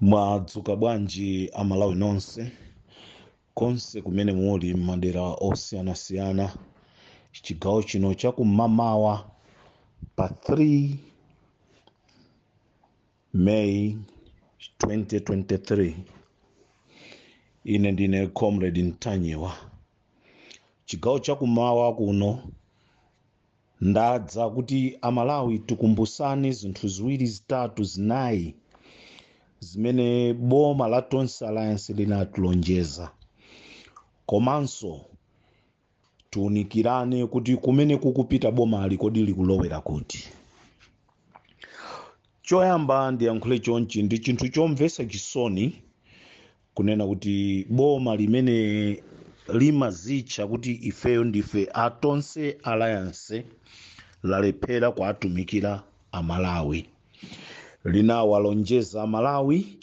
mwadzuka bwanji amalawi nonse konse kumene muli m'madera osiyanasiyana chigawo chino chakum'mawa pa 3 may 2023 ine ndine comrade ntanyiwa chigawo chakum'mawa kuno Ndadza kuti amalawi tikumbusane zinthu ziwiri zitatu zinayi zimene boma la Tonse Alliance linatilonjeza komanso tiunikirane kuti kumene kukupita bomali kodi likulowera kuti. Choyamba ndiyankhule chonchi ndi chinthu chomvetsa chisoni kunena kuti boma limene limazitcha kuti ifeyo ndife a tonse alliance lalephera kuatumikira amalawi linawalonjeza amalawi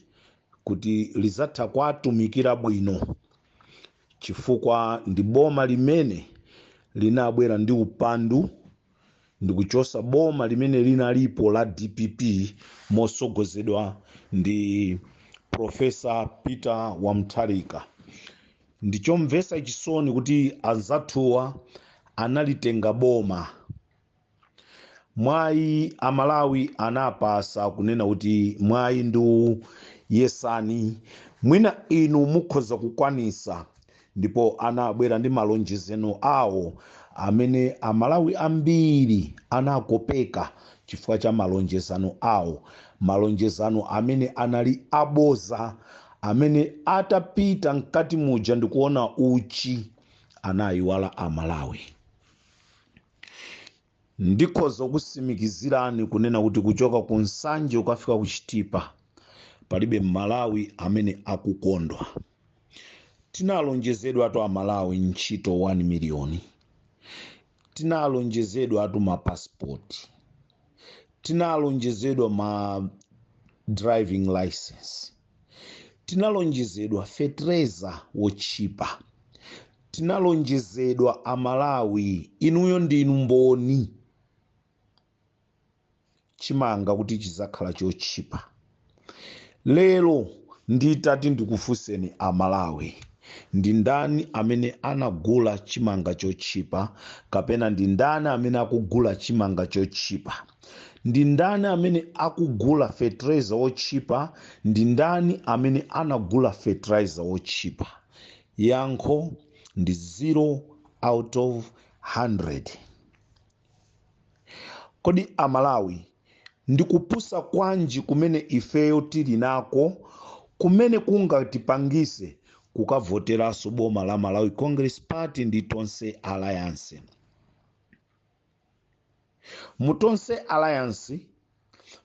kuti lizatha kuatumikira bwino chifukwa ndi boma limene linabwera ndi upandu ndikuchosa boma limene linalipo la dpp motsogozedwa ndi profesa peter wa mutharika ndichomvetsa chisoni kuti anzathuwa analitenga boma mwayi amalawi anapasa kunena kuti mwayi ndi uwu yesani mwina inu mukhoza kukwanisa ndipo anabwera ndi malonjezano awo amene amalawi ambiri anakopeka chifukwa cha malonjezano awo malonjezano amene anali aboza amene atapita mkati muja ndikuona uchi anayiwala amalawi Ndikhoza kukutsimikizirani kunena kuti kuchoka ku Nsanje ukafika ku Chitipa palibe m'Malawi amene akukondwa. Tinalonjezedwatu a Malawi ntchito 1 miliyoni, tinalonjezedwatu ma passport, tinalonjezedwa ma driving licence. tinalonjezedwa fetereza wotchipa tinalonjezedwa amalawi inuyo ndinu mboni chimanga kuti chizakhala chotchipa lero nditati ndikufunseni amalawi ndi ndani amene anagula chimanga chotchipa kapena ndi ndani amene akugula chimanga chotchipa Ndi ndani amene akugula fertilizer wotchipa? Ndi ndani amene anagula fertilizer wotchipa? Yankho ndi 0 out of 100. Kodi a Malawi ndi kupusa kwanji kumene ifeyo tili nako kumene kungatipangise kukavoteraso boma la Malawi Congress Party ndi Tonse Alliance? mu tonse alliance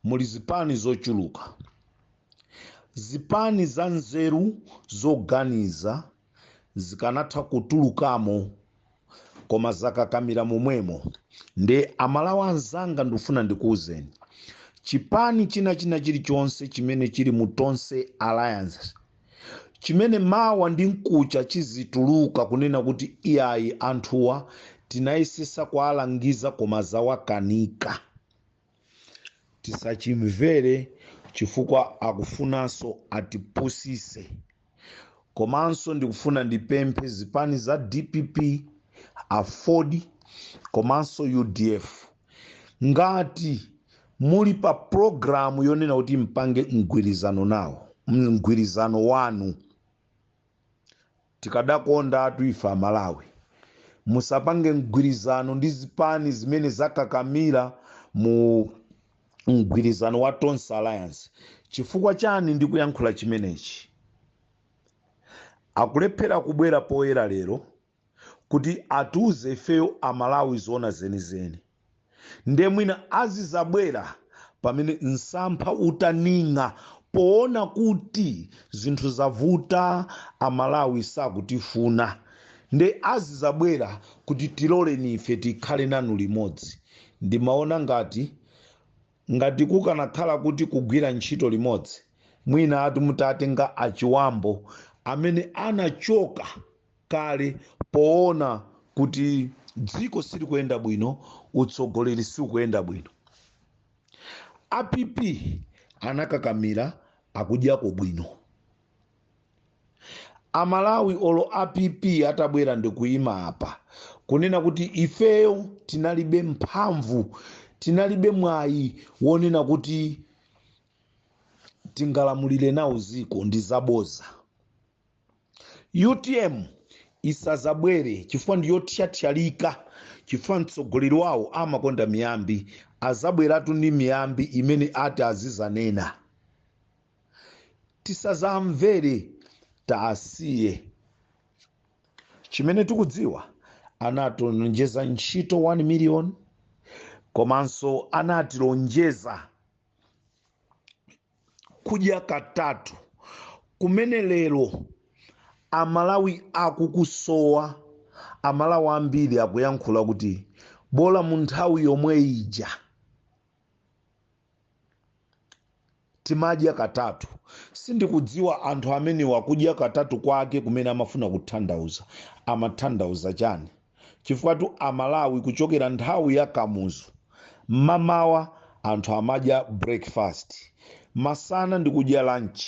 muli zipani zochuluka zipani za nzeru zoganiza zikanatha kutulukamo koma zakakamira momwemo nde amalawi anzanga ndifuna ndikuwuzeni chipani china china chilichonse chimene chili mu tonse alliance chimene mawa ndi mkuja chizituluka kunena kuti iyayi anthuwa tinayesesa kuwalangiza koma zawakanika tisachimvere chifukwa akufunanso atipusise komanso ndikufuna ndipemphe zipani za dpp aford komanso udf ngati muli pa programu yonena kuti mpange mgwirizano nawo mgwirizano wanu tikadakonda atu ife amalawi musapange mgwirizano ndi zipani zimene zakakamira mu mgwirizano wa tonse alliance chifukwa chani ndikuyankhula chimenechi akulephera kubwera poyera lero kuti atiuze ifeyo amalawi zoona zenizeni nde mwina azizabwera pamene msampha utaning'a poona kuti zinthu zavuta amalawi sakutifuna nde azizabwera kuti tiloleni ife tikhale nanu limodzi ndimaona ngati ngati kukanakhala kuti kugwira ntchito limodzi mwina ati mutatenga a Chihana amene anachoka kale poona kuti dziko silikuyenda bwino utsogoleri siukuyenda bwino a pp anakakamira akudyako bwino amalawi olo a pp atabwera ndikuyima apa kunena kuti ifeyo tinalibe mphamvu tinalibe mwayi wonena kuti tingalamulire nawo dziko ndi zaboza utm isazabwere chifukwa ndiyothyathyalika chifukwa mtsogoleri wawo amakonda miyambi azabweratu ndi miyambi imene ati azizanena tisazamvere tasiye chimene tikudziwa anatilonjeza ntchito 1 million komanso anatilonjeza kudya katatu kumene lero amalawi akukusowa amalawi ambiri akuyankhula kuti bola mu nthawi yomwe ija timadya katatu sindikudziwa anthu amenewa kudya katatu kwake kumene amafuna kuthandauza amathandauza chani chifukwatu amalawi kuchokera nthawi ya kamuzu mmamawa anthu amadya breakfast masana ndikudya lunch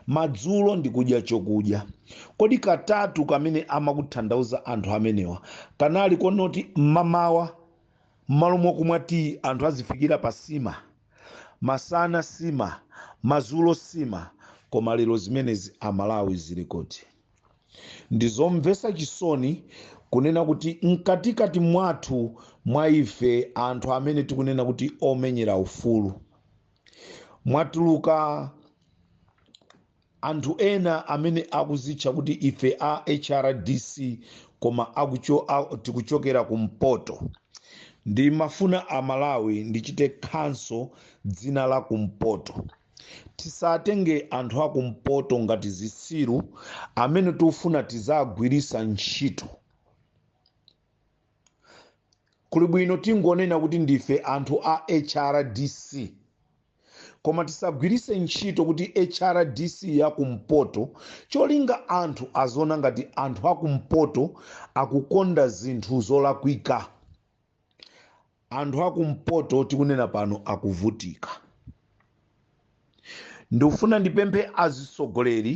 madzulo ndikudya chokudya kodi katatu kamene amakuthandauza anthu amenewa kanali konoti mmamawa mmalo mokumwa tiyi anthu azifikira pa sima masana sima madzulo sima koma lero zimenezi amalawi zili kuti ndi zomvetsa chisoni kunena kuti mkatikati mwathu mwa ife anthu amene tikunena kuti omenyera ufulu mwatuluka anthu ena amene akuzitcha kuti ife a hrdc koma tikuchokera kumpoto ndimafuna amalawi ndichite khanso dzina la kumpoto tisatenge anthu akumpoto ngati zitsiru amene tikufuna tizagwirisa ntchito kuli bwino tingonena kuti ndife anthu a hrdc koma tisagwirise ntchito kuti hrdc yakumpoto cholinga anthu aziona ngati anthu akumpoto akukonda zinthu zolakwika anthu akumpoto tikunena pano akuvutika ndikufuna ndipemphe azitsogoleri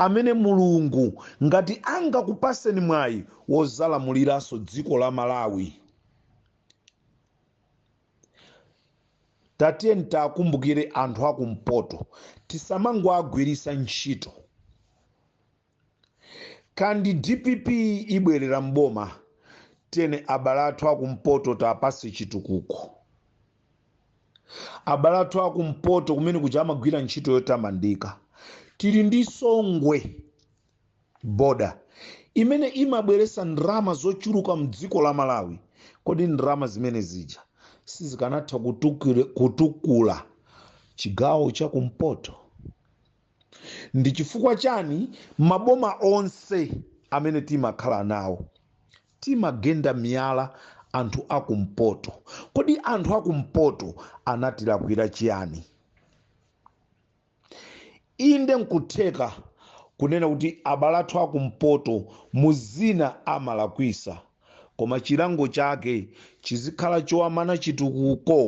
amene mulungu ngati angakupaseni mwayi wozalamuliranso dziko la malawi tatiyeni takumbukire anthu akumpoto tisamangowagwirisa ntchito ngati dpp ibwerera mboma tene abale athu akumpoto tapase chitukuko abale athu akumpoto kumene kuja amagwira ntchito yotamandika tili ndi songwe boda imene imabweresa ndrama zochuluka mdziko la malawi kodi ndrama zimene zija sizikanatha kutukule- kutukula chigawo chakumpoto ndi chifukwa chani maboma onse amene timakhala nawo timagenda miyala anthu akumpoto kodi anthu akumpoto anatilakwira chiyani inde nkutheka kunena kuti abale athu akumpoto mu zina amalakwisa koma chilango chake chizikhala chowamana chitukuko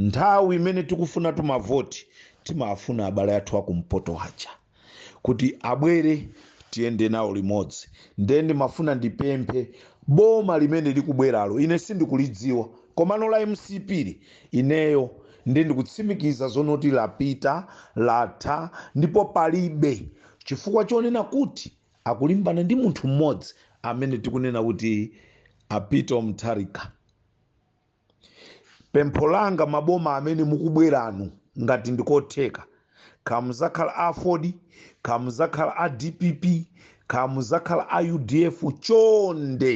nthawi imene tikufuna tumavoti timafuna abale athu akumpoto aja kuti abwere tiyende nawo limodzi ndiye ndimafuna ndipemphe boma limene likubweralo ine sindikulidziwa komano la mcp-li ineyo ndiye ndikutsimikiza zonoti lapita latha ndipo palibe chifukwa chonena kuti akulimbana ndi munthu mmodzi amene tikunena kuti a peter mutharika pempho langa maboma amene mukubweranu ngati ndikotheka kamuzakhala a aford kamuzakhala a dpp kamuzakhala a udf chonde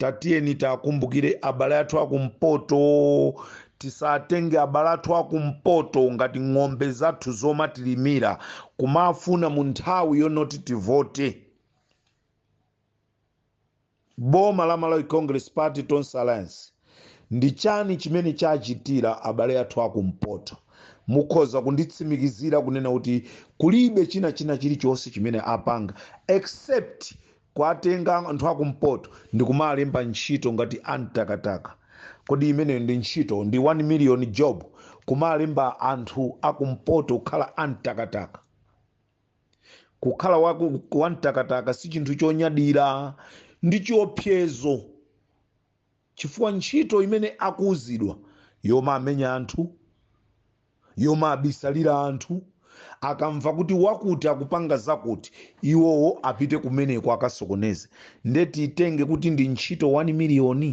tatiyeni tiwakumbukire abale athu akumpoto tisatenge abale athu akumpoto ngati ng'ombe zathu zomatilimira kumafuna mu nthawi yonoti tivote Boma la Malawi Congress Party, Tonse Alliance, ndi chani chimene chachitira abale athu a kumpoto? Mukhoza kunditsimikizira kunena kuti kulibe china china chilichonse chimene apanga except kuwatenga anthu a kumpoto ndikumalemba ntchito ngati a mtakataka? Kodi imeneyo ndi ntchito? Ndi 1 million job? Kumalemba anthu a kumpoto kukhala a mtakataka? kukhala wamtakataka si chinthu chonyadira ndi chiopsezo chifukwa ntchito imene akuuzidwa yomaamenya anthu yomaabisalira anthu akamva kuti wakuti akupanga zakuti iwowo apite kumeneko akasokoneze nde tiitenge kuti ndi ntchito 1 miliyoni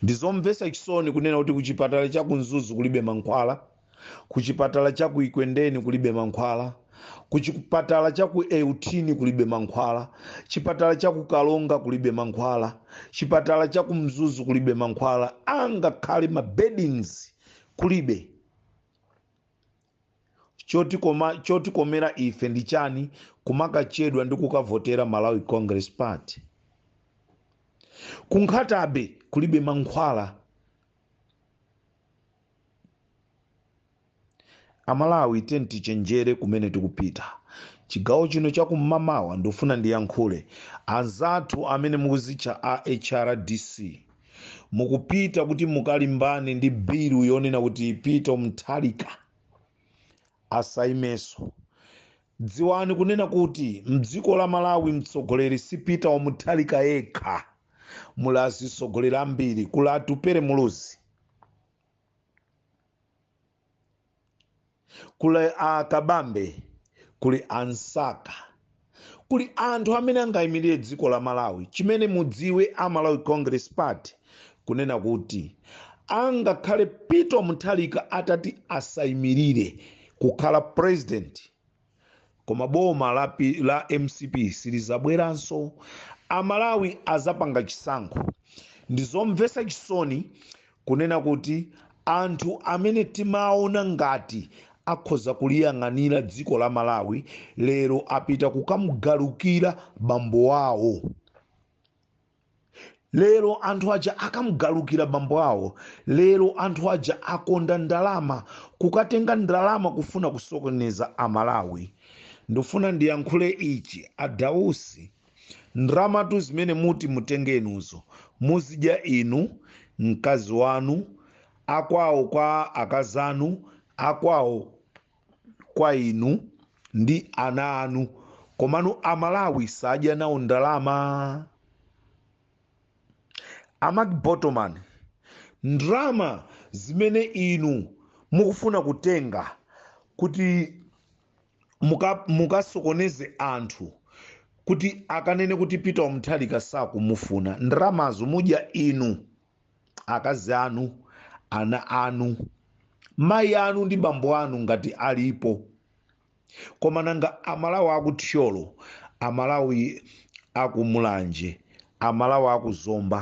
ndi zomvetsa chisoni kunena kuti kuchipatala cha ku mzuzu kulibe mankhwala kuchipatala cha ku ekwendeni kulibe mankhwala kuchipatala cha ku euthini kulibe mankhwala chipatala cha ku karonga kulibe mankhwala chipatala cha ku mzuzu kulibe mankhwala angakhale ma beddings kulibe chotikomera ife ndi chani kumakachedwa ndi kukavotera malawi congress party ku nkhata bay kulibe mankhwala amalawi tiyeni tichenjere kumene tikupita chigawo chino chakum'mamawa ndifuna ndiyankhule anzathu amene mukuzitcha a hrdc mukupita kuti mukalimbane ndi bilu yonena kuti peter mutharika asaimeso dziwani kunena kuti mdziko la malawi mtsogoleri si peter wamutharika yekha muli azitsogoleri ambiri kuli atupere muluzi kuli akabambe kuli ansaka kuli anthu amene angayimirire dziko la malawi chimene mudziwe a malawi congress party kunena kuti angakhale peter mutharika atati asayimirire kukhala president koma boma la mcp silizabweranso amalawi azapanga chisankho ndizomvesa chisoni kunena kuti anthu amene timaona ngati akhoza kuliyang'anira dziko la malawi lero apita kukamugalukira bambo wawo lero anthu aja akamugalukira bambo awo lero anthu aja akonda ndalama kukatenga ndalama kufuna kusokoneza amalawi ndifuna ndiyankhule ichi adausi ndramatu zimene muti mutenge inuzo muzidya inu mkazi wanu akwawo kwa akazanu akwawo kwa inu ndi ana anu komano amalawi sadya nawo ndalama amak botoman ndalama zimene inu mukufuna kutenga kuti mukasokoneze anthu kuti akanene kuti peter mutharika sakumufuna ndalamazo mudya inu akazi anu ana anu mayi anu ndi bambo anu ngati alipo koma nanga amalawi akuthyolo amalawi akumulanje amalawi akuzomba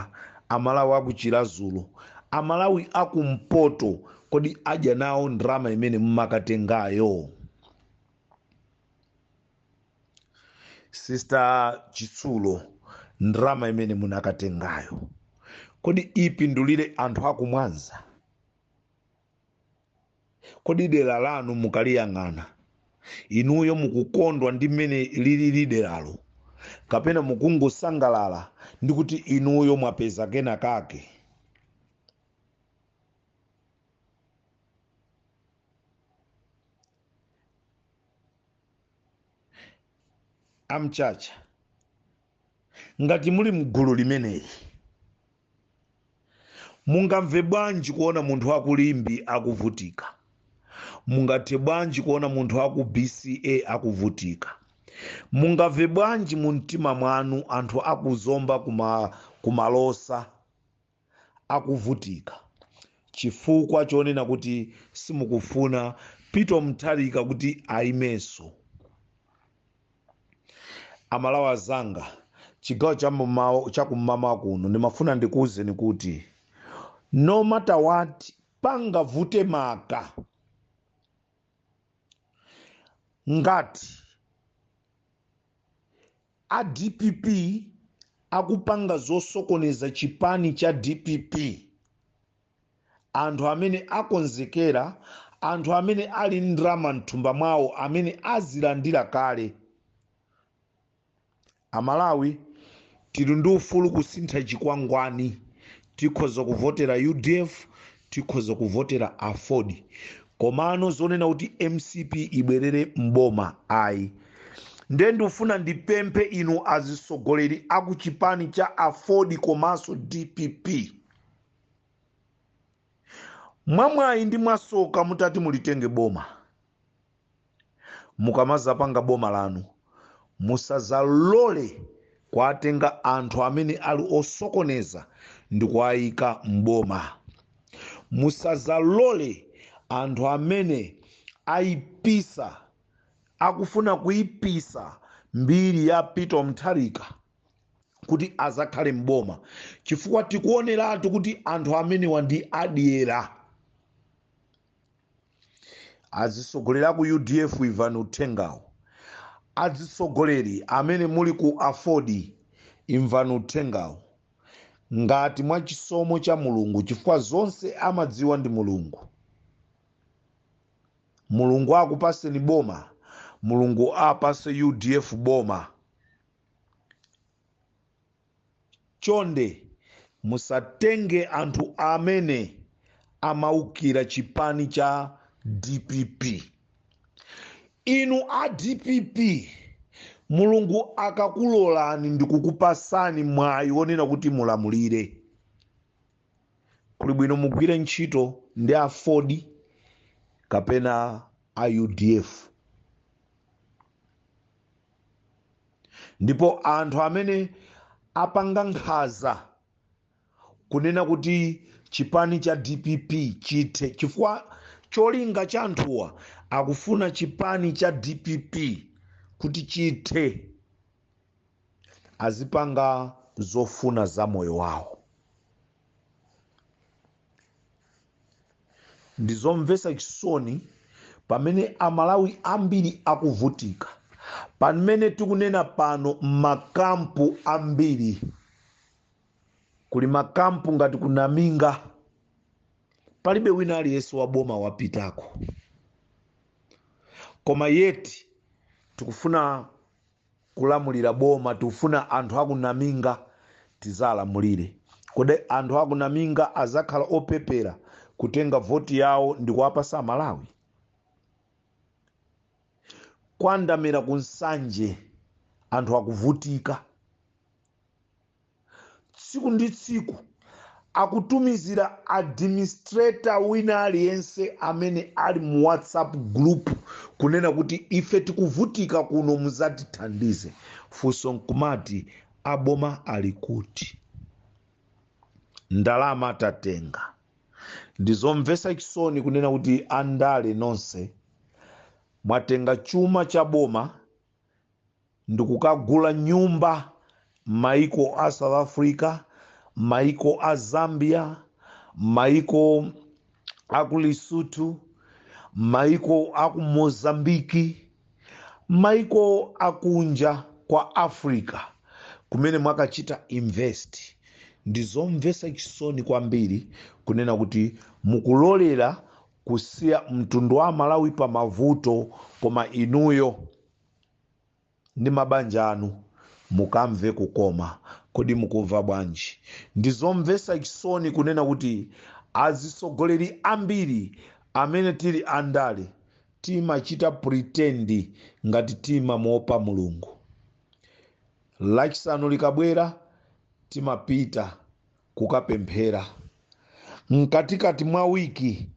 amalawi akuchilazulo amalawi akumpoto kodi adya nawo ndrama imene mumakatengayo sister chitsulo ndrama imene munakatengayo kodi ipindulire anthu akumwanza kodi dera lanu mukaliyang'ana inuyo mukukondwa ndi mmene lilili deralo kapena mukungosangalala ndi kuti inuyo mwapeza kena kake amchacha ngati muli mgulu limeneli mungamve bwanji kuona munthu wakulimbe akuvutika mungathe bwanji kuona munthu aku bca akuvutika mungamve bwanji mu mtima mwanu anthu akuzomba kumalosa akuvutika chifukwa chonena kuti simukufuna Peter Mutharika kuti ayimenso. Amalawi azanga chigawo cha kummawa kuno ndimafuna ndikuwuzeni kuti no matter what pangavute maka ngati A dpp akupanga zosokoneza chipani cha dpp. Anthu amene akonzekera, anthu amene ali ndi ndrama mthumba mwawo amene azilandira kale. Amalawi tili ndi ufulu kusintha chikwangwani. Tikhoza kuvotera udf, tikhoza kuvotera aford komano zonena kuti mcp ibwerere mboma ayi nde ndifuna ndipemphe inu azisogoleri aku chipani cha aford komanso dpp mwamwayi ndi mwasoka mutati mulitenge boma mukamazapanga boma lanu musazalole kuwatenga anthu amene ali osokoneza ndikuwaika mboma musazalole anthu amene aipisa akufuna kuipisa mbiri ya peter mutharika kuti azakhale mboma chifukwa tikuoneratu kuti anthu amenewa ndi adyera azitsogoleri aku udf imvani uthengawu azitsogoleri amene muli ku aford imvani uthengawu ngati mwa chisomo cha mulungu chifukwa zonse amadziwa ndi mulungu mulungu akupaseni boma mulungu apase udf boma chonde musatenge anthu amene amaukira chipani cha dpp inu a dpp mulungu akakulolani ndikukupasani mwayi wonena kuti mulamulire kuli bwino mugwire ntchito ndi aford kapena a udf ndipo anthu amene apanga nkhaza kunena kuti chipani cha dpp chithe chifukwa cholinga cha anthuwa akufuna chipani cha dpp kuti chithe azipanga zofuna za moyo wawo ndi zomvetsa chisoni pamene amalawi ambiri akuvutika pamene tikunena pano m'makampu ambiri kuli makampu ngati ku Naminga palibe wina aliyense wa boma wapitako koma yeti tikufuna kulamulira boma tikufuna anthu aku naminga tizalamulire kodi anthu aku naminga azakhala opepera kutenga voti yawo ndikuwapasa amalawi kwa ndamera ku nsanje anthu akuvutika tsiku ndi tsiku akutumizira administrator wina aliyense amene ali mu whatsapp group kunena kuti ife tikuvutika kuno muzatithandize funso nkumati aboma ali kuti ndalama tatenga ndizomvesa chisoni kunena kuti andale nonse mwatenga chuma cha boma ndikukagula nyumba maiko a south africa maiko a zambia maiko aku lesotho maiko aku mozambiki maiko akunja kwa africa kumene mwakachita invest ndizomvesa chisoni kwambiri kunena kuti mukulolera kusiya mtundu wa amalawi pa mavuto koma inuyo ndi mabanja anu mukamve kukoma kodi mukumva bwanji ndizomvesa chisoni kunena kuti azisogoleri ambiri amene tili andale timachita pretend ngati timamuopa mulungu lachisanu likabwera timapita kukapemphera mkatikati mwa wiki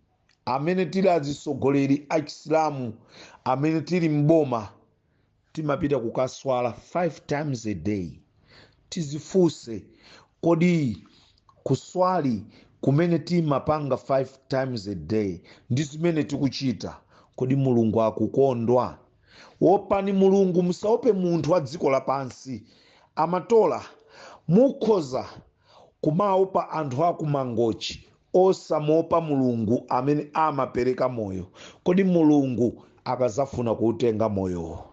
amene tili azitsogoleri a chisilamu amene tili m'boma timapita kukaswali 5 times a day tizifunse kodi kuswali kumene timapanga 5 times a day ndi zimene tikuchita kodi mulungu akukondwa wopani mulungu musaope munthu wa dziko lapansi amatola mukhoza kumaopa anthu akumangochi osamuopa mulungu amene amapereka moyo kodi mulungu akazafuna kuutenga moyowo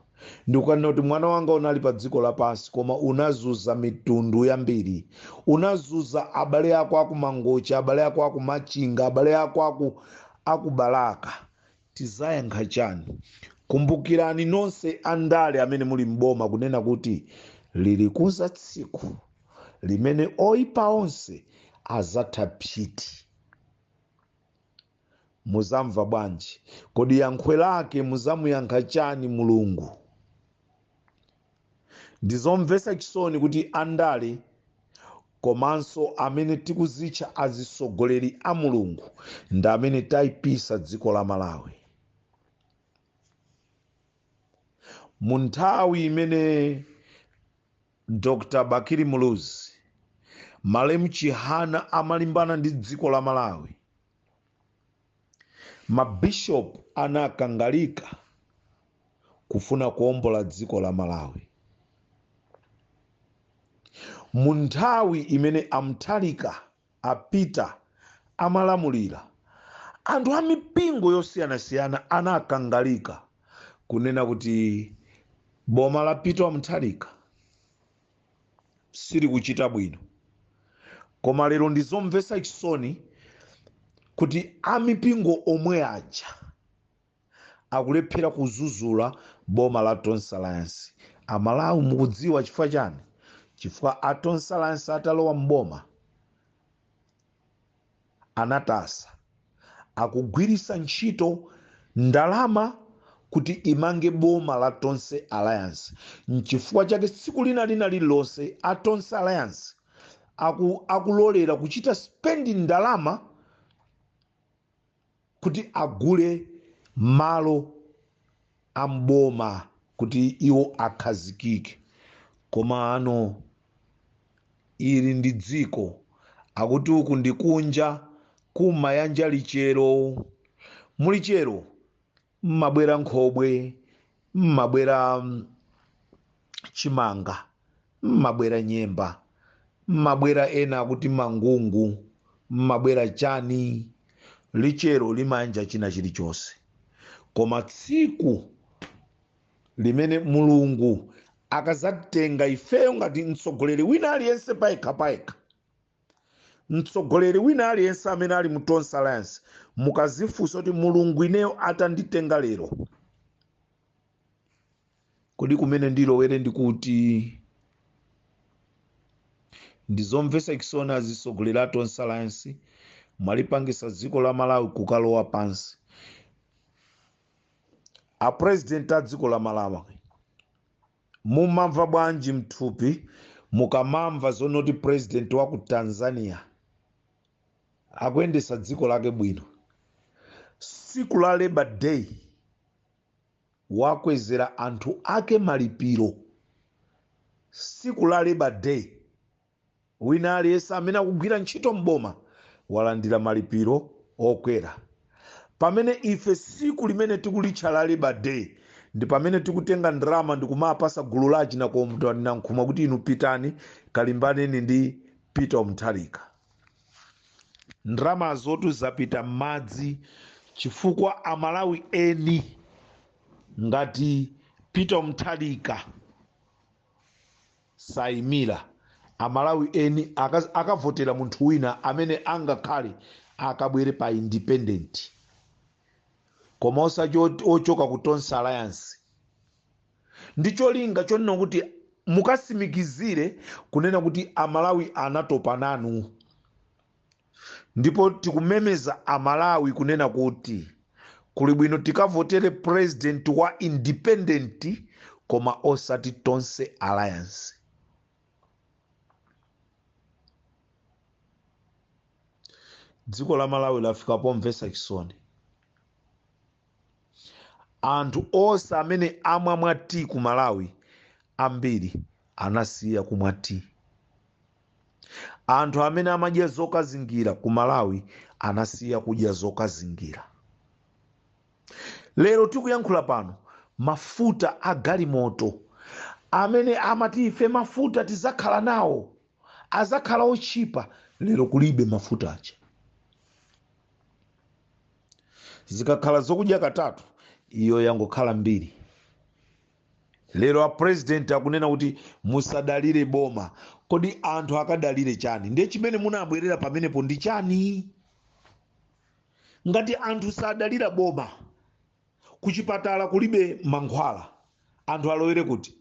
ndikukanena kuti mwana wanga unali pa dziko lapansi koma unazuza mitundu yambiri unazuza abale ako akumangochi abale ako akumachinga abale ako aku akubalaka tizayankha chani kumbukirani nonse andale amene muli m'boma kunena kuti lilikuza tsiku limene oyipa onse azatha psiti muzamva bwanji kodi yankho lake muzamuyankha chani mulungu ndizomvetsa chisoni kuti andale komanso amene tikuzitcha azisogoleri a mulungu ndi amene taipisa dziko la malawi mu nthawi imene dr bakili muluzi malemu chihana amalimbana ndi dziko la malawi mabishopu anakangalika kufuna kuombola dziko la malawi mu nthawi imene amutharika a peter amalamulira anthu a mipingo yosiyanasiyana anakangalika kunena kuti boma la peter amutharika silikuchita bwino koma lero ndizomvetsa chisoni kuti amipingo omwe aja akulephera kuzuzula boma la tonse alliance amalawi mukudziwa chifukwa chani chifukwa a tonse alliance atalowa mboma anayetsetsa kugwirisa ntchito ndalama kuti imange boma la Tonse Alliance nchifukwa chake tsiku lina ndi lina lililonse a Tonse Alliance aku, akulolera kuchita spend ndalama kuti agule malo a m'boma kuti iwo akhazikike koma ano ili ndi dziko akuti uku ndi kunja kumayanja lichero muli chero mmabwera nkhobwe mmabwera mm, chimanga mmabwera nyemba mmabwera ena akuti mangungu mmabwera chani lichero limayanja china chilichonse koma tsiku limene mulungu akazatenga ifeyo ngati mtsogoleri wina aliyense payekha payekha mtsogoleri wina aliyense amene ali mu tonse alliance mukazifunsa kuti mulungu ineyo atanditenga lero kodi kumene ndilowere ndikuti ndizomvesa chisoni azitsogoleri a tonse alliance mwalipangisa dziko la malawi kukalowa pansi a president a dziko la malawi Mumamva bwanji mthupi mukamamva zonoti president wa ku Tanzania akuyendesa dziko lake bwino? Siku la labour day wakwezera anthu ake malipiro. Siku la labour day Wina aliyense amene akugwira ntchito m'boma walandira malipiro okwera. Pamene ife siku limene tikulitcha la Labour Day ndi pamene tikutenga ndalama ndikumapasa gulu la achina Kondwani Nankhumwa kuti inu pitani kalimbaneni ndi Peter Mutharika. Ndalamazotu zapita m'madzi chifukwa a Malawi eni ngati Peter Mutharika saimila amalawi eni akavotera munthu wina amene angakhale akabwere pa independent koma osati ochoka ku tonse alliance ndi cholinga chonena kuti mukasimikizire kunena kuti amalawi anatopa nanu ndipo tikumemeza amalawi kunena kuti kuli bwino tikavotere president wa independent koma osati tonse alliance dziko la malawi lafika pomvesa chisoni anthu onse amene amamwa tea ku malawi ambiri anasiya kumwa tea anthu amene amadya zokazingira ku malawi anasiya kudya zokazingira lero tikuyankhula pano mafuta a galimoto amene amati ife mafuta tizakhala nawo azakhala otchipa lero kulibe mafuta aja zikakhala zokudya katatu iyo yangokhala mbiri lero apurezidenti akunena kuti musadalire boma kodi anthu akadalire chani ndiye chimene munabwerera pamenepo ndi chani ngati anthu sadalira boma kuchipatala kulibe mankhwala anthu alowere kuti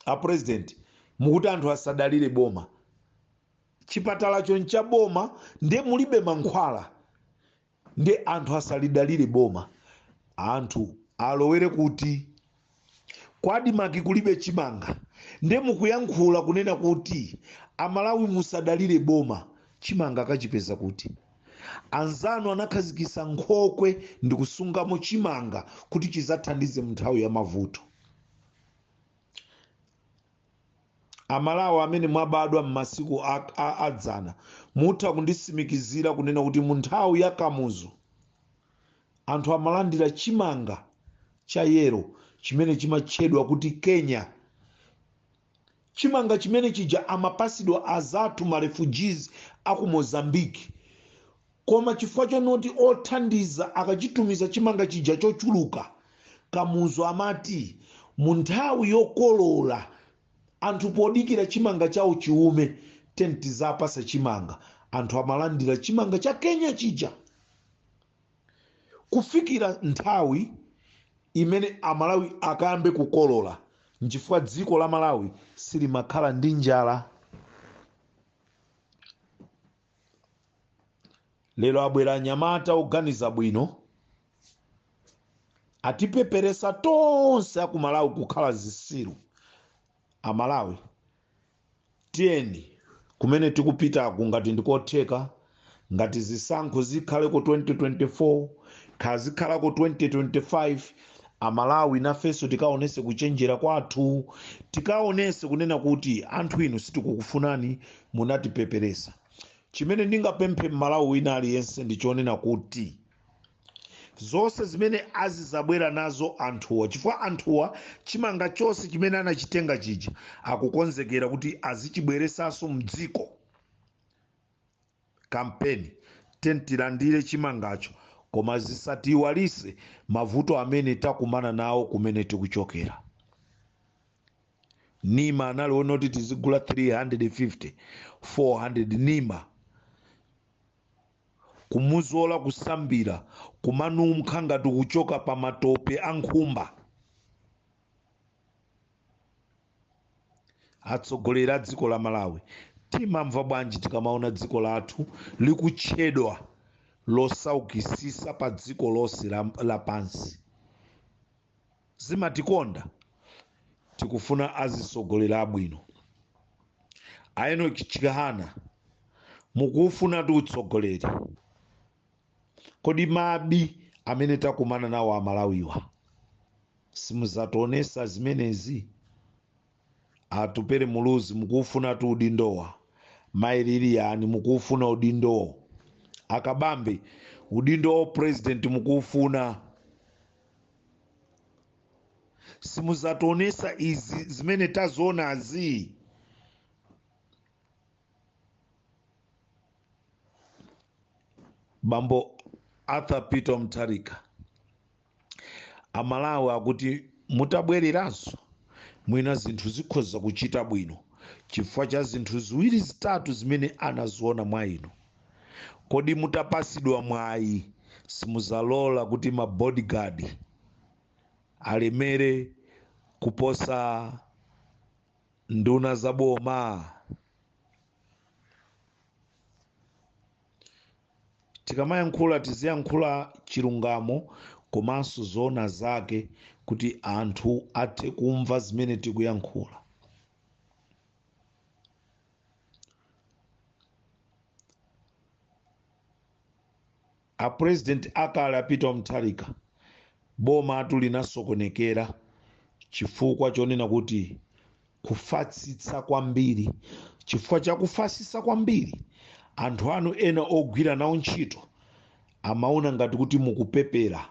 apurezidenti mukuti anthu asadalire boma chipatalacho ncha boma nde mulibe mankhwala nde anthu asalidalire boma anthu alowere kuti ku ADMARC kulibe chimanga nde mukuyankhula kunena kuti amalawi musadalire boma chimanga akachipeza kuti anzanu anakhazikisa nkhokwe ndikusungamo chimanga kuti chizathandize munthawi ya mavuto amalawi amene mwabadwa m'masiku adzana mutha kundisimikizira kunena kuti mu nthawi ya kamuzu anthu amalandira chimanga cha yero chimene chimatchedwa kuti kenya chimanga chimene chija amapasidwa azathu marefugees aku mozambique Koma chifukwa chonoti othandiza akachitumiza chimanga chija chochuluka, Kamuzu amati mu nthawi yokolola anthu podikira chimanga chawo chiume tiyeni tizapasa chimanga anthu amalandira chimanga cha Kenya chija kufikira nthawi imene Amalawi akayambe kukolola nchifukwa dziko la Malawi silimakhala ndi njala. lero abwera anyamata oganiza bwino atipeperesa tonse akumalawi kukhala zisiru amalawi tiyeni kumene tikupitaku ngati ndikotheka ngati zisankho zikhaleko 2024 kaya zikhalako 2025 amalawi nafenso tikaonese kuchenjera kwathu tikaonese kunena kuti anthu inu sitikukufunani munatipeperesa chimene ndingapemphe mmalawi wina aliyense ndi chonena kuti zonse zimene azizabwera nazo anthuwa chifukwa anthuwa chimanga chonse chimene anachitenga chija akukonzekera kuti azichibweresanso mdziko kampeni tiyeni tilandire chimangacho koma zisatiiwalise mavuto amene takumana nawo kumene tikuchokera nima analonjeza kuti tizigula 350 400 nima kumuzola kusambira kumanunkha ngati kuchoka pa matope a nkhumba atsogoleri a dziko la malawi timamva bwanji tikamaona dziko lathu likutchedwa losaukisisa pa dziko lonse lapansi zimatikonda tikufuna azitsogoleri abwino a Enock Chihana mukuufunatu utsogoleri kodi mabvu amene takumana nawo amalawiwa simuzationesa zimenezi atupere muluzi mukuufunatu udindowu mayi Liliani mukuufuna udindowo akabambe udindo wa president mukuufuna simuzationesa izi zimene tazionazi bambo arthur peter mutharika amalawi akuti mutabwereranso mwina zinthu zikhoza kuchita bwino chifukwa cha zinthu ziwiri zitatu zimene anaziona mwa inu kodi mutapasidwa mwayi simuzalola kuti ma bodyguard alemere kuposa nduna za boma tikamayankhula tiziyankhula chilungamo komanso zoona zake kuti anthu athe kumva zimene tikuyankhula apurezidenti akale a Peter Mutharika bomatu linasokonekera chifukwa chonena kuti kufatsitsa kwambiri chifukwa cha kufatsitsa kwambiri anthu anu ena ogwira nawo ntchito amaona ngati kuti mukupepera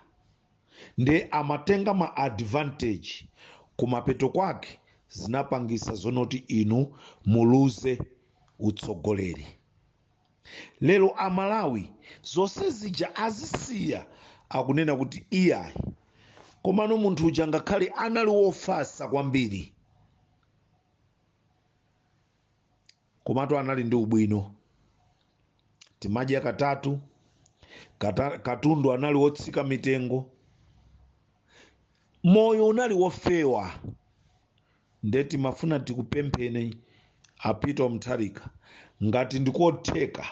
nde amatenga ma advantage kumapeto kwake zinapangisa zonoti inu muluze utsogoleri lero amalawi zonse zija azisiya akunena kuti iyayi komano munthu uja ngakhale anali wofasa kwambiri komatu anali ndi ubwino timadya katatu, katundu anali wotsika mitengo moyo unali wofewa nde timafuna tikupempheni a Peter Mutharika ngati ndikotheka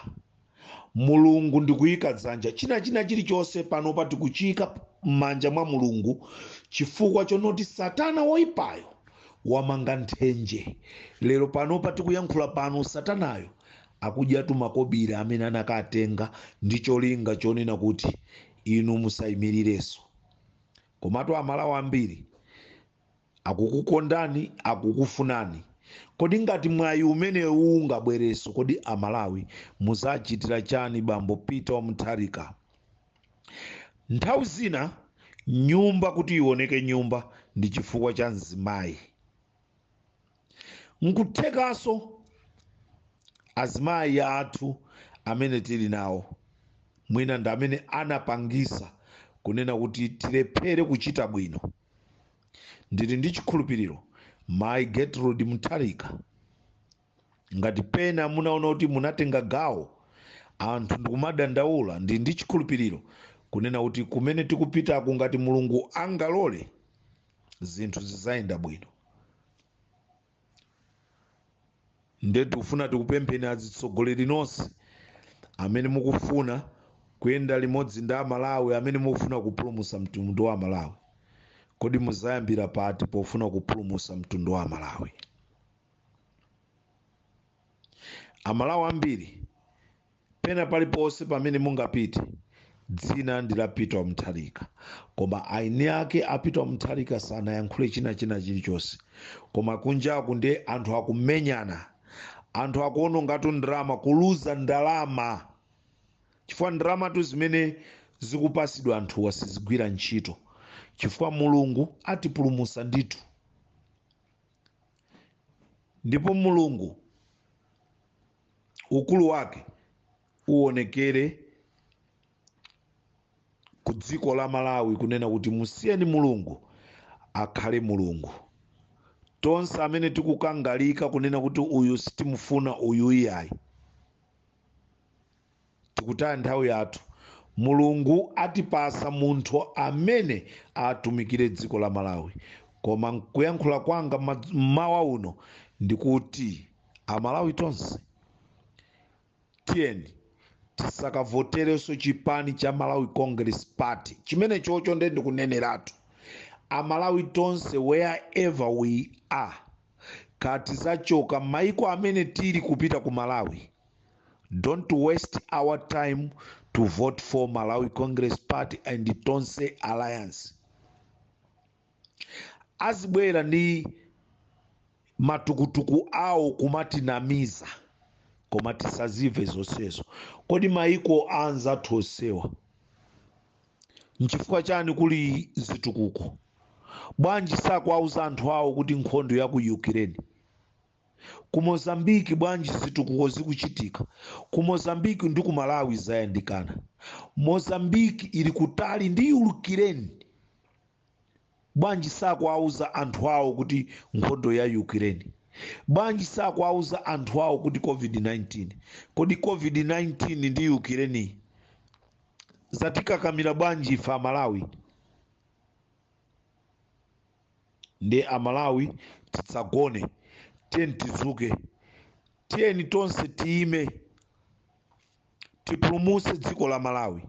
mulungu ndikuyika dzanja china china chilichonse panopa tikuchiyika m'manja mwa mulungu chifukwa chonoti satana woyipayo wamanga nthenje lero panopa tikuyankhula pano satanayo akudyatu makobiri amene anakatenga ndi cholinga chonena kuti inu musayimirirenso komatu amalawi ambiri akukukondani akukufunani kodi ngati mwayi umenewu ungabwereso kodi amalawi muzachitira chani bambo peter wa mutharika nthawi zina nyumba kuti ioneke nyumba ndi chifukwa cha mzimayi nkuthekaso azimayi athu amene tili nawo mwina ndi amene anapangisa kunena kuti tilephere kuchita bwino ndili ndi chikhulupiriro mayi gertrude mutharika ngati pena munaona kuti munatenga gawo anthu ndikumadandaula ndili ndi chikhulupiriro kunena kuti kumene tikupitako ngati mulungu angalole zinthu zizayenda bwino nde tikufuna tikupempheni azitsogoleri nonse amene mukufuna kuyenda limodzi ndi amalawi amene mukufuna kupulumusa mtundu wa amalawi kodi muzayambira pati pofuna kupulumusa mtundu wa amalawi amalawi ambiri pena paliponse pamene mungapite dzina ndi la peter mutharika koma aini ake a peter mutharika sanayankhule china china chilichonse koma kunjaku ndi anthu akumenyana anthu akuonongatu ndalama kuluza ndalama chifukwa ndalamatu zimene zikupasidwa anthuwa sizigwira ntchito chifukwa mulungu atipulumusa ndithu ndipo mulungu ukulu wake uonekere ku dziko la malawi kunena kuti musiyeni mulungu akhale mulungu tonse amene tikukangalika kunena kuti uyu sitimufuna uyu iyayi tikutaya nthawi yathu mulungu atipasa munthu amene atumikire dziko la malawi koma kuyankhula kwanga mmawa uno ndikuti amalawi tonse tiyeni tisakavotereso chipani cha malawi congress party chimene chocho nde ndikuneneratu amalawi tonse wherever we are ngati tizachoka maiko amene tili kupita ku malawi don't waste our time to vote for malawi congress party and tonse alliance azibwera ndi matukutuku awo kumatinamiza koma tisazimve zonsezo kodi maiko anzathu onsewa nchifukwa chani kuli zitukuko bwanji sakuwauza anthu awo kuti nkhondo ya ku ukraine ku mozambiki bwanji zitukuko zikuchitika ku mozambiki ndi ku malawi zayandikana mozambiki ili kutali ndi yukireni bwanji sakuwauza anthu awo kuti nkhondo ya ukraine bwanji sakuwauza anthu awo kuti covid-19 kodi covid-19 ndi ukraine zatikakamira bwanji ife amalawi ndiye amalawi tisagone tiyeni tizuke tiyeni tonse tiyime tipulumutse dziko la malawi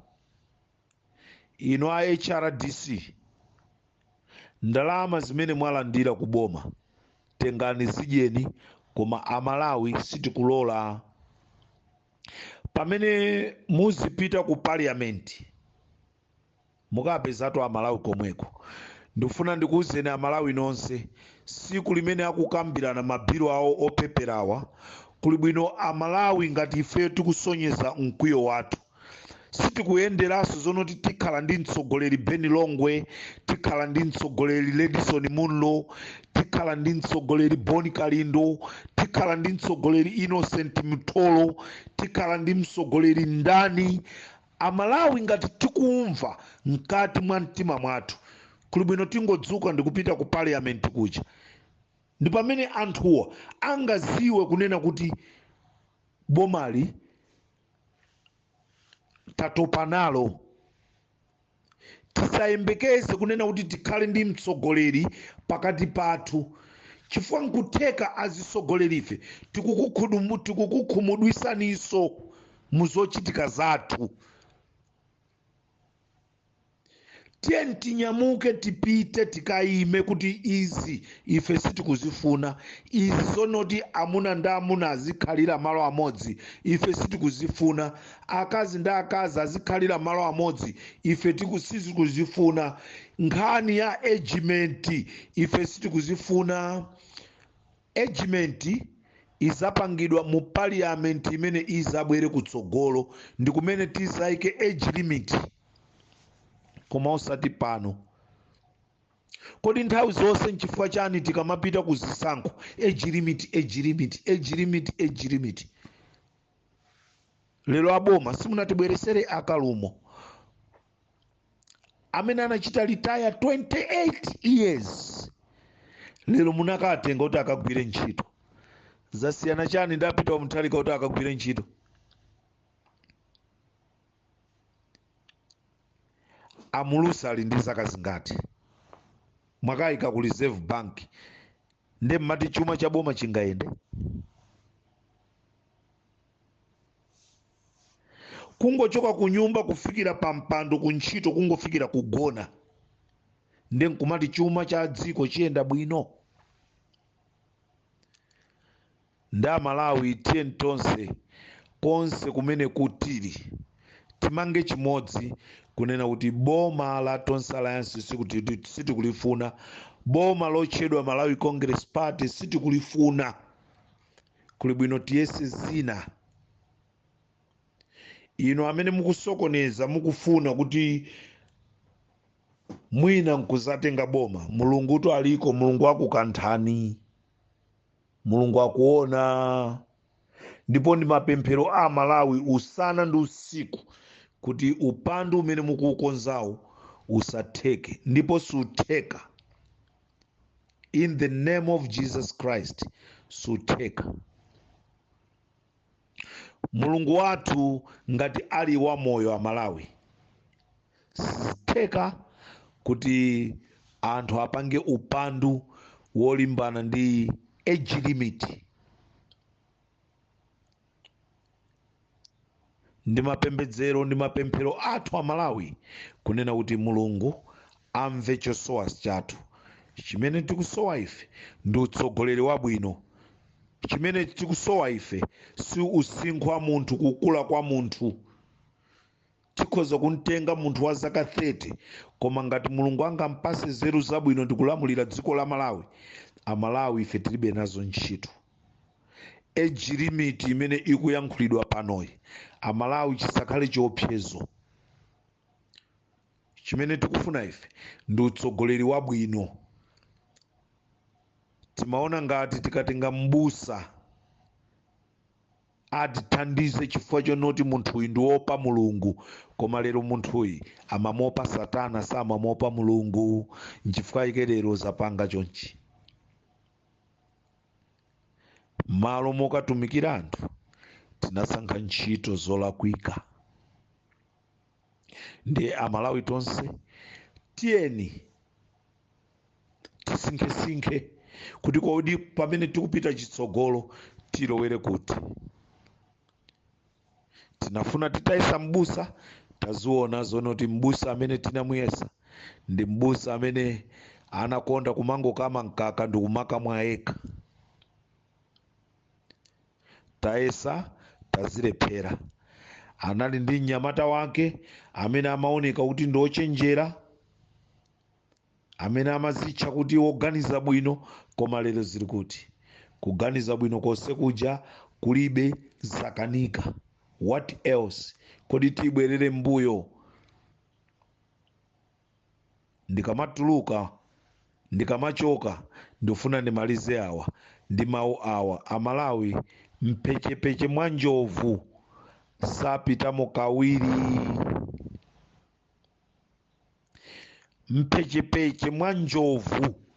inu a hrdc ndalama zimene mwalandira ku boma tengani zidyeni koma amalawi sitikulola pamene muzipita ku parliament Mukapezatu a Malawi komweko. Ndikufuna ndikuuzeni a Malawi nonse, siku limene akukambirana ma bill awo opeperawa, kuli bwino a Malawi ngati ifeyo tikasonyeze mkwiyo wathu. Sitikuyenderaso zonoti tikhala ndi mtsogoleri Ben Longwe, tikhala ndi mtsogoleri Ledison Munlo, tikhala ndi mtsogoleri Bon Kalindo, tikhala ndi mtsogoleri Innocent Mtolo, tikhala ndi mtsogoleri ndani Amalawi ngati tikumva mkati mwa mtima mwathu kuli bwino tingodzuka ndikupita ku parliament kuja ndi pamene anthuwa angaziwe kunena kuti bomali tatopa nalo. tisayembekeze kunena kuti tikhale ndi mtsogoleri pakati pathu chifukwa nkutheka azitsogolerife tikukukhumudwisaninso mu zochitika zathu tiyeni tinyamuke tipite tikayime kuti izi ife sitikuzifuna izi zonoti amuna ndi amuna azikhalira malo amodzi ife sitikuzifuna akazi ndi akazi azikhalira malo amodzi ife sitikuzifuna nkhani ya age limit ife sitikuzifuna age limit izapangidwa mu parliament imene izabwere kutsogolo ndi kumene tizaike age limit koma osati pano kodi nthawi zonse nchifukwa chani tikamapita ku zisankho age limit age limit age limit age limit lero aboma simunatibweresere a Kalumo amene anachita retire 28 years lero munakatenga kuti akagwire ntchito zasiyana chani ndi Peter wa Mutharika kuti akagwire ntchito a Mlusu ali ndi zaka zingati mwakayika ku reserve bank nde mmati chuma cha boma chingayende kungochoka ku nyumba kufikira pa mpando ku ntchito kungofikira kugona nde nkumati chuma cha dziko chiyenda bwino Nde amalawi tiyeni tonse konse kumene tili timange chimodzi kunena kuti boma la tonse alliance sitikulifuna boma lotchedwa malawi congress party sitikulifuna kuli bwino tiyese zina inu amene mukusokoneza mukufuna kuti mwina nkuzatenga boma mulungutu aliko mulungu akukanthani mulungu akuona ndipo ndi mapemphero amalawi usana ndi usiku kuti upandu umene mukuukonzawo usatheke ndipo sutheka in the name of jesus christ sutheka mulungu wathu ngati ali wamoyo amalawi sitheka kuti anthu apange upandu wolimbana ndi age limit ndi mapembedzero ndi mapemphero athu amalawi kunena kuti mulungu amve chosowa chathu chimene tikusowa ife ndi utsogoleri wabwino chimene tikusowa ife si usinkhu wa munthu kukula kwa munthu tikhoza kumtenga munthu wa zaka 30 koma ngati mulungu angampase nzeru zabwino ndikulamulira dziko la malawi amalawi ife tilibe nazo ntchito age limit imene ikuyankhulidwa panoyi amalawi chisakhale chiopsezo chimene tikufuna ife ndi utsogoleri wabwino timaona ngati tikatenga m'busa atithandize chifukwa chonoti munthuyi ndi wopa mulungu koma lero munthuyi amamuopa satana samamuopa mulungu nchifukwa ike lero zapanga chonchi malo mokatumikira anthu tinasankha ntchito zolakwika ndiye amalawi tonse tiyeni tisinkhesinkhe kuti kodi pamene tikupita chitsogolo tilowere kuti tinafuna titayesa mbusa taziona zonoti mbusa amene tinamuyesa ndi mbusa amene anakonda kumangokama mkaka ndi kumakamwa yekha tayesa tazilephera anali ndi mnyamata wake amene amaoneka kuti ndi ochenjera amene amazitcha kuti woganiza bwino koma lero zili kuti kuganiza bwino konse kuja kulibe zakanika what else kodi tibwerere mbuyo ndikamatuluka ndikamachoka ndifuna ndimalize awa ndi mawu awa amalawi mphechepeche mwa njovu sapitamo kawiri mphechepeche mwa njovu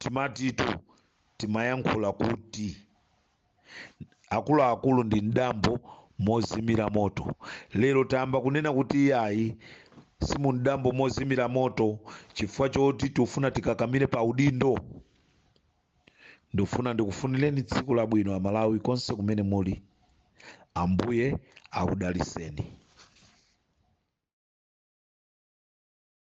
timatitu timayankhula kuti akuluakulu ndi mdambo mozimira moto lero tayamba kunena kuti iyayi si mumdambo mozimira moto chifukwa choti tifuna tikakamire pa udindo ndikufuna ndikufunireni tsiku labwino amalawi konse kumene muli ambuye akudalitseni